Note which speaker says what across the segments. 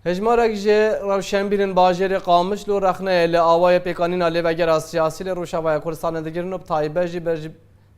Speaker 1: Hejmarek ji rewşenbîrên bajêrê Qamişl û Rexneyê li awayê pêkanîna lêvegera siyasî li Rojavaya Kurdistanê digirin û bi taybet jî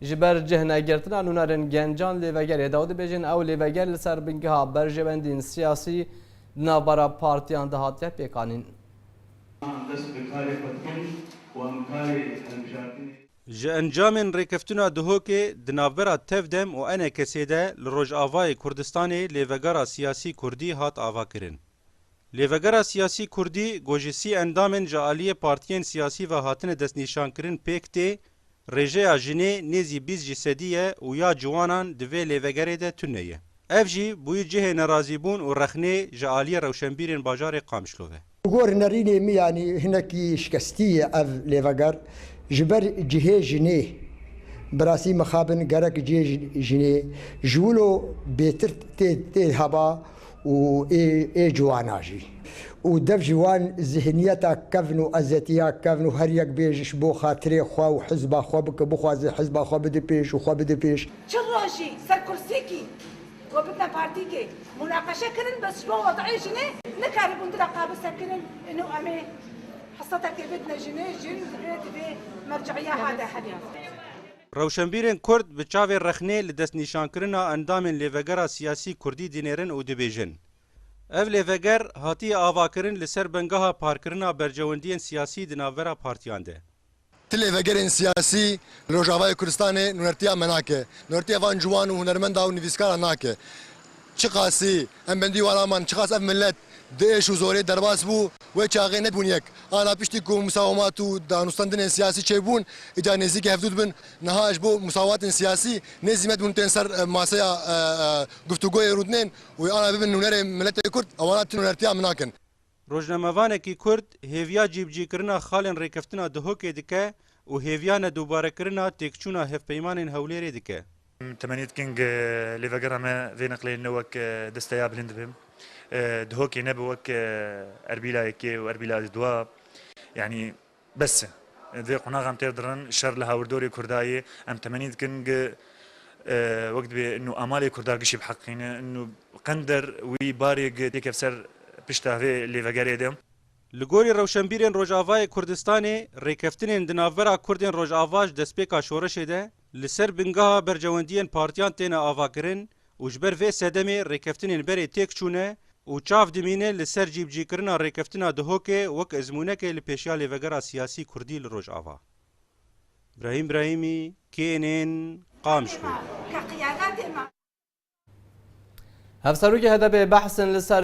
Speaker 1: ji ber cih negirtina nûnerên gencan lêvegerê da û dibêjin ew lêveger li ser bingeha berjewendîyên siyasî di navbera partiyan de hatiye pêkanîn. Ji encamên rêkeftina Duhokê di navbera Tevdem û Enekesê de li Rojavayê Kurdistanê lêvegera siyasî kurdî hat avakirin. Lêvegera siyasî kurdî ku ji sî endamên ji aliyê partiyên siyasî ve hatine destnîşankirin pêk tê, rêjeya jinê nêzî bîst ji sedî ye û ya ciwanan di vê lêvegerê de tune ye. Ev jî bûyî cihê nerazîbûn û rexnê ji aliyê rewşenbîrên bajarê Qamişlo ve. Bi gor nerînê min yanî hinekî şikestî ye ev lêveger. Ji ber cihê jinê. Bi rastî mixabin gerek cihê jinê ji wilo bêtir tê heba û ê ciwana jî. Û dev ji wan zihniyeta kevn û ezetiya kevn û her yek bê ji bo xatirê xwe û hizba xwe bike, bixwaze hizba xwe bide pêş û xwe bide pêş. Çi rojî ser kursîkî Ku bi tepartîkê munaqeşe kirin bi siba wadayê jinê nikaribûn di re qabil sekirin ino em ê hisetekê bidine jinê, jin ji vê divê merceîya ha de hebî. Rewşenbîrên Kurd bi çavê rexnê li destnîşankirina endamên lêvegera siyasî Kurdî dinêrin û dibêjin, Ev lêveger hatiye avakirin li ser bengeha parkirina bercewendiyên siyasî di navbera partiyan de. Ti lêvegerên siyasî li Rojavayê Kurdistanê nûnertiya me nake, nûnertiya van ciwan û hunermenda û nivîskaran nake. Çiqasî em bendî wan aman, çiqas ev milet di êş û zorê derbas bû, wê çaxê nebûn yek. Ana piştî ku musawemat û danûstandinên siyasî çêbûn, îcar nêzîkî hevdû dibin. Niha ji bo musawewatên siyasî nê zîmet bûn tên ser maseya guftûgoyê rûdinên û ana bibin nûnerê miletê Kurd, ewana ti nûnertiya me nakin. Rojnamevanekî Kurd hêviya cîbicîkirina xalên rêkeftina Duhokê dike û hêviya nedubarekirina têkçûna hevpeymanên Hewlêrê dike. Em temenî dikin ku li vegerra me vê neqleyê ne wek deste ya bilind be. Duhokê ne bi wek Erbîla yekê û Erbîla duwa yanî Bes e. Dê qonaxan têr dirin. Şer li hawirdorê Kurda yê. Em temenî dikin gi wek dibê nû amalê Kurda gişî biheqîqîne. Nû qender wî barê gi têkev ser pişta vê lêvegerê de. Li gorî rewşenbîrên Rojavayê Kurdistanê, rêkeftinên di navbera Kurdên Rojava ji destpêka şoreşê de Li ser bingeha berjewendiyên partiyan têne avakirin û ji ber vê sedemê rêkeftinên berê têk çûne û çav dimîne li ser cîbicîkirina rêkeftina Dihokê wek ezmûnekê li pêşiya lêvegera siyasî kurdî li Rojava. Brahîm Brahîmî, KNN, Qamşlo. Hevserokê HDP'ê behsên li ser.